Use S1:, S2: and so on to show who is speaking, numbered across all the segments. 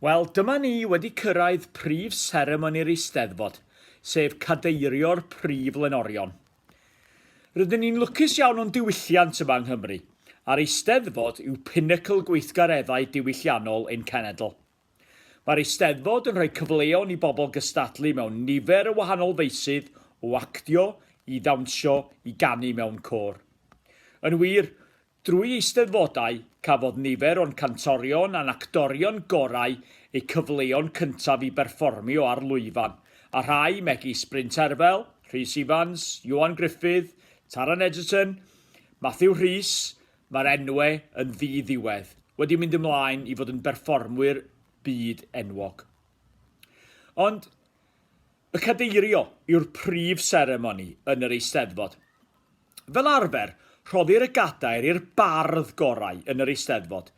S1: Wel, dyma ni wedi cyrraedd prif seremoni'r Eisteddfod, sef cadeirio'r Prif Lenorion. Rydyn ni'n lwcus iawn o'n diwylliant yma yng Nghymru, a'r Eisteddfod yw pinacl gweithgareddau diwylliannol ein cenedl. Mae'r Eisteddfod yn rhoi cyfleon i bobl gystadlu mewn nifer o wahanol feysydd, o actio, i ddawnsio, i ganu mewn côr. Yn wir, Drwy Eisteddfodau, cafodd nifer o'n cantorion a'n actorion gorau eu cyfleon cyntaf i berfformio ar lwyfan, a rhai, megis Bryn Terfel, Rhys Ifans, Ioan Gruffydd, Taran Egerton, Matthew Rhys, mae'r enwe yn ddi-ddiwedd, wedi mynd ymlaen i fod yn berfformwyr byd enwog. Ond y cadeirio yw'r prif seremoni yn yr Eisteddfod. Fel arfer, rhoddir y gadair i'r bardd gorau yn yr Eisteddfod,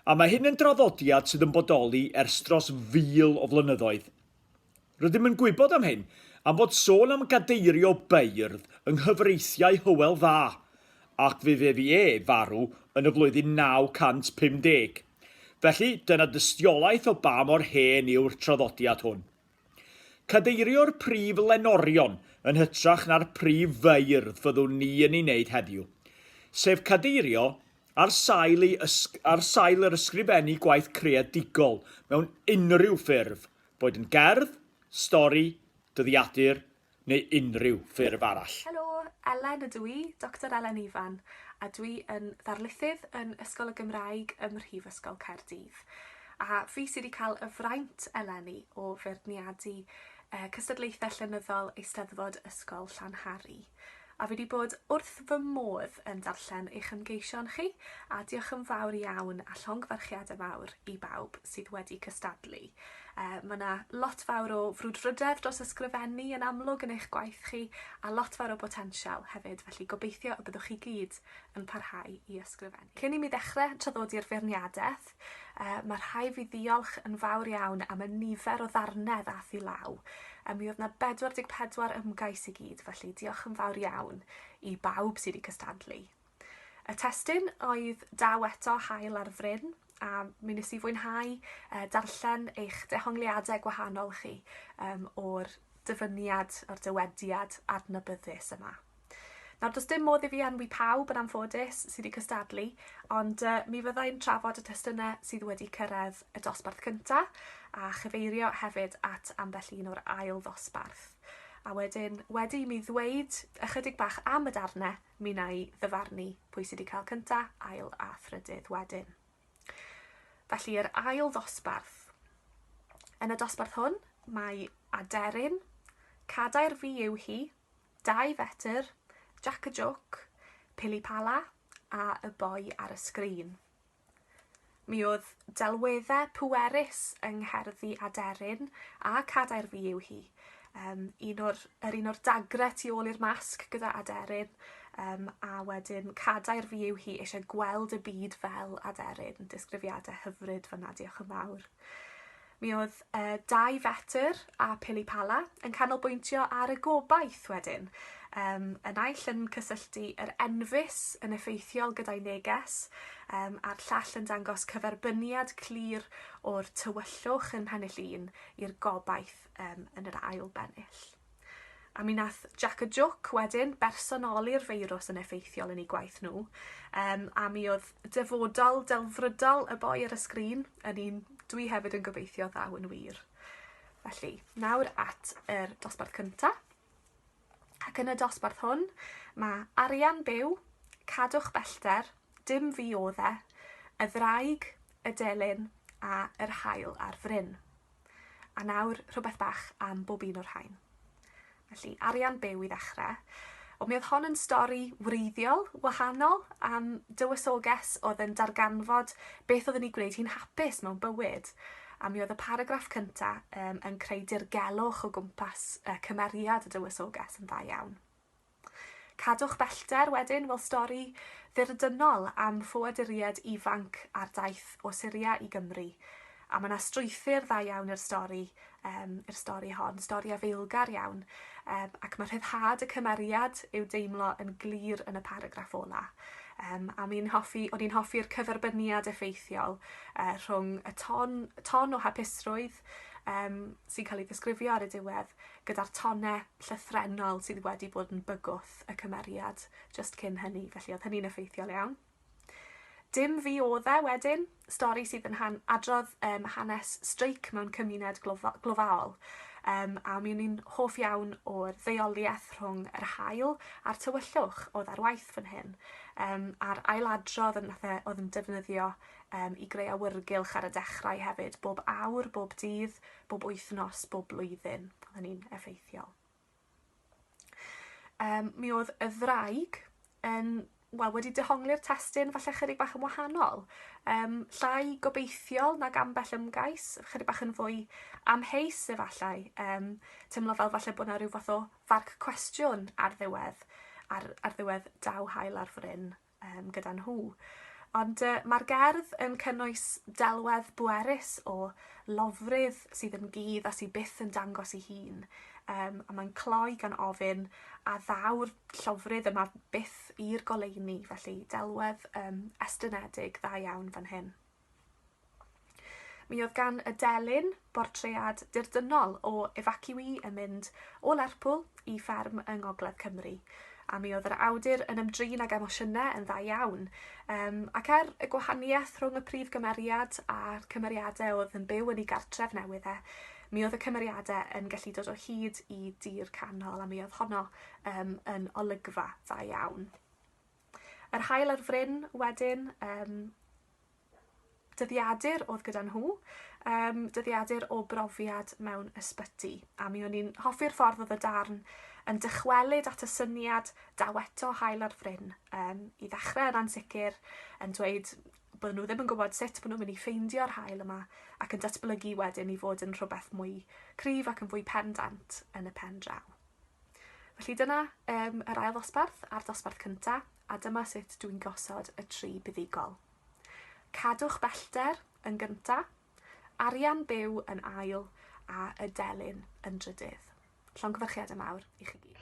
S1: a mae hyn yn draddodiad sydd yn bodoli ers dros fil o flynyddoedd. Rydym yn gwybod am hyn am fod sôn am gadeirio beirdd yng nghyfreithiau Hywel Dda, ac fe fu e farw yn y flwyddyn 950. Felly, dyna dystiolaeth o ba mor hen yw'r traddodiad hwn. Cadeirio'r prif lenorion yn hytrach na'r prif feirdd fyddwn ni yn ei wneud heddiw, sef cadeirio ar sail ei ysg- ar sail yr ysgrifennu gwaith creadigol mewn unrhyw ffurf, boed yn gerdd, stori, dyddiadur, neu unrhyw ffurf arall. Helo, Elen
S2: ydw i, Doctor Elen Ifan, a dwi yn ddarlithydd yn Ysgol y Gymraeg ym Mhrifysgol Caerdydd. A fi sydd wedi cael y fraint eleni o feirniadu cystadlaethau llenyddol Eisteddfod Ysgol Llanhari. A fi 'di bod wrth fy modd yn darllen eich ymgeision chi, a diolch yn fawr iawn a llongyfarchiadau mawr i bawb sydd wedi cystadlu. Yy ma' 'na lot fawr o frwdfrydedd dros ysgrifennu yn amlwg yn eich gwaith chi, a lot fawr o botensial hefyd, felly gobeithio y byddwch chi gyd yn parhau i ysgrifennu. Cyn i mi ddechre traddodi'r feirniadaeth, Ffrainc, uh, mae rhai fi ddiolch yn fawr iawn am y nifer o ddarnau ddath i law. Um, mi oedd na 44 ymgais i gyd, felly diolch yn fawr iawn i bawb sydd wedi cystadlu. Y testyn oedd daw eto hael ar fryn, a mi nes i fwynhau uh, darllen eich dehongliadau gwahanol chi um, o'r dyfyniad, o'r dywediad adnabyddus yma. Nawr, does dim modd i fi enwi pawb yn anffodus sydd wedi cystadlu, ond uh, mi fyddai'n trafod y testunau sydd wedi cyrraedd y dosbarth cyntaf a chyfeirio hefyd at ambell un o'r ail ddosbarth. A wedyn, wedi mi ddweud ychydig bach am y darnau, mi na i ddyfarnu pwy sydd wedi cael cyntaf, ail a thrydydd wedyn. Felly, yr ail ddosbarth. Yn y dosbarth hwn, mae Aderyn, Cadair fi yw hi, Dau fetr, Jac y Jwc, Pili Pala a Y Boi ar y Sgrin. Mi oedd delweddau pwerus yng ngherddi aderyn a cadair fi yw hi. Um, un o'r, er un o'r dagre tu ôl i'r masg gyda aderyn um, a wedyn cadair fi yw hi eisiau gweld y byd fel aderyn. Disgrifiadau hyfryd fyna, diolch yn fawr. Mi oedd y dau fetr a pili pala yn canolbwyntio ar y gobaith wedyn. Um, y naill yn cysylltu yr enfys yn effeithiol gyda'i neges, um, a'r llall yn dangos cyferbyniad clir o'r tywyllwch yn pennill un i'r gobaith um, yn yr ail bennill. A mi nath Jac y Jwc wedyn bersonoli'r feirws yn effeithiol yn eu gwaith nhw, um, a mi oedd dyfodol delfrydol y boi ar y sgrin yn un dwi hefyd yn gobeithio ddaw yn wir. Felly, nawr at yr dosbarth cynta. Ac yn y dosbarth hwn, mae arian byw, cadwch bellter, dim fi o dde, y ddraig, y delyn a yr hael ar fryn. A nawr, rhywbeth bach am bob un o'r rhain. Felly, arian byw i ddechrau. Ond mi oedd hon yn stori wreiddiol, wahanol, am dywysoges oedd yn darganfod beth oedd yn ei gwneud hi'n hapus mewn bywyd. A mi oedd y paragraff cynta um, yn creu dirgelwch o gwmpas uh, cymeriad y dywysoges yn dda iawn. Cadwch bellter wedyn, wel stori ddirdynol am ffoaduriaid ifanc ar daith o Syria i Gymru. A mae yna strwythur dda iawn i'r stori, um, i'r stori hon, stori afeilgar iawn, um, ac mae rhyddhad y cymeriad i'w deimlo yn glir yn y paragraff ola. Um, a mi'n hoffi, o'n i'n hoffi'r cyferbyniad effeithiol uh, rhwng y ton, ton o hapusrwydd yym sy'n cael ei ddisgrifio ar y diwedd gyda'r tone llythrennol sydd wedi bod yn bygwth y cymeriad just cyn hynny, felly oedd hynny'n effeithiol iawn. Dim fi oedd e wedyn, stori sydd yn han adrodd um, hanes streic mewn cymuned glofa glofaol. Um, a mi o'n i'n hoff iawn o'r ddeoliaeth rhwng yr hael a'r tywyllwch oedd ar waith fan hyn, um, a'r ailadrodd yn nath e oedd yn defnyddio um, i greu awyrgylch ar y dechrau hefyd, bob awr, bob dydd, bob wythnos, bob blwyddyn. Oedd hynny'n effeithiol. Um, mi oedd y ddraig yn wel, wedi dehongli'r testyn falle chydig bach yn wahanol. Um, llai gobeithiol nag ambell ymgais, chydig bach yn fwy amheus efallai. Um, teimlo fel falle bod yna rhyw fath o farc cwestiwn ar ddiwedd, ar, ar ddiwedd daw hael ar fryn. um, gyda nhw. Ond uh, mae'r gerdd yn cynnwys delwedd bwerus o lofrydd sydd yn gudd a sydd byth yn dangos ei hun. Um, a mae'n cloi gan ofyn a ddaw'r llofrydd yma byth i'r goleuni, felly delwedd um, estynedig dda iawn fan hyn. Mi oedd gan y delyn bortread dirdynnol o efaciwî yn mynd o Lerpwl i fferm yng Ngogledd Cymru, a mi oedd yr awdur yn ymdrin ag emosiynau yn dda iawn. Um, ac er y gwahaniaeth rhwng y prif gymeriad a'r cymeriadau oedd yn byw yn ei gartref newydd e, mi oedd y cymeriadau yn gallu dod o hyd i dir canol a mi oedd honno um, yn olygfa dda iawn. Yr haul ar fryn wedyn, um, dyddiadur oedd gyda nhw, um, dyddiadur o brofiad mewn ysbyty. A mi o'n i'n hoffi'r ffordd oedd y darn yn dychwelyd at y syniad daweto hael ar fryn. Um, I ddechrau yn ansicr, yn dweud bod nhw ddim yn gwybod sut bod nhw'n mynd i ffeindio'r hael yma ac yn datblygu wedyn i fod yn rhywbeth mwy cryf ac yn fwy pendant yn y pen draw. Felly dyna um, yr ail ddosbarth a'r dosbarth cynta, a dyma sut dwi'n gosod y tri buddugol. Cadwch bellter yn gynta, arian byw yn ail, a y delyn yn drydydd. Llongyfarchiad y mawr i chi gyd.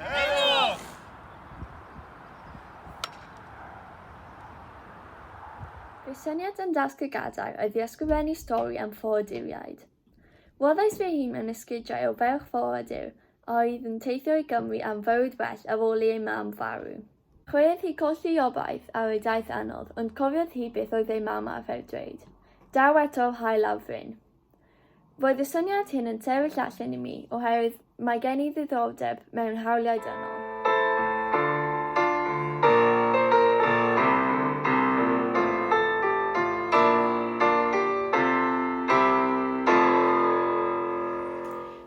S3: Heddwch! Fy syniad yn Dasg y Gadair oedd i ysgrifennu stori am ffoaduriaid. Rhoddais fy hun yn esgidiau o ferch ffoadur a oedd yn teithio i Gymru am fywyd well ar ôl i ei mam farw. Credodd hi colli obaith ar ei daith anodd ond cofiodd hi beth oedd ei mam arfer dweud, 'Daw eto'r haul a'r fryn'. Roedd y syniad hyn yn sefyll allan i mi oherwydd mae gen i ddiddordeb mewn hawliau dynol.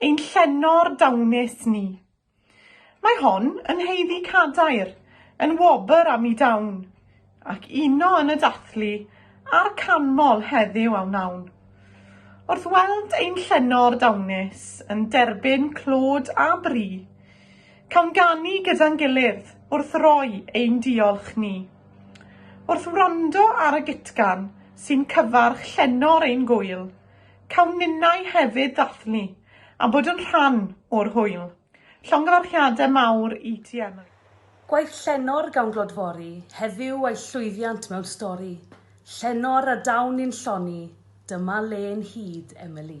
S4: Ein llenor dawnus ni. Mae hon yn haeddu cadair, yn wobr am i dawn, ac uno yn y dathlu a'r canmol heddiw a wnawn. Wrth weld ein llenor dawnus yn derbyn clod a bri, cawn ganu gyda'n gilydd wrth roi ein diolch ni. Wrth wrando ar y gytgan sy'n cyfarch llenor ein gŵyl, Cawn ninnau hefyd ddathlu a bod yn rhan o'r hwyl. Llongyfarchiadau mawr i ti Emily. Gwaith Llenor
S5: gawn glodfori heddiw a'i llwyddiant mewn stori, Llenor a dawn ni'n lloni, dyma le yn hyd, Emily.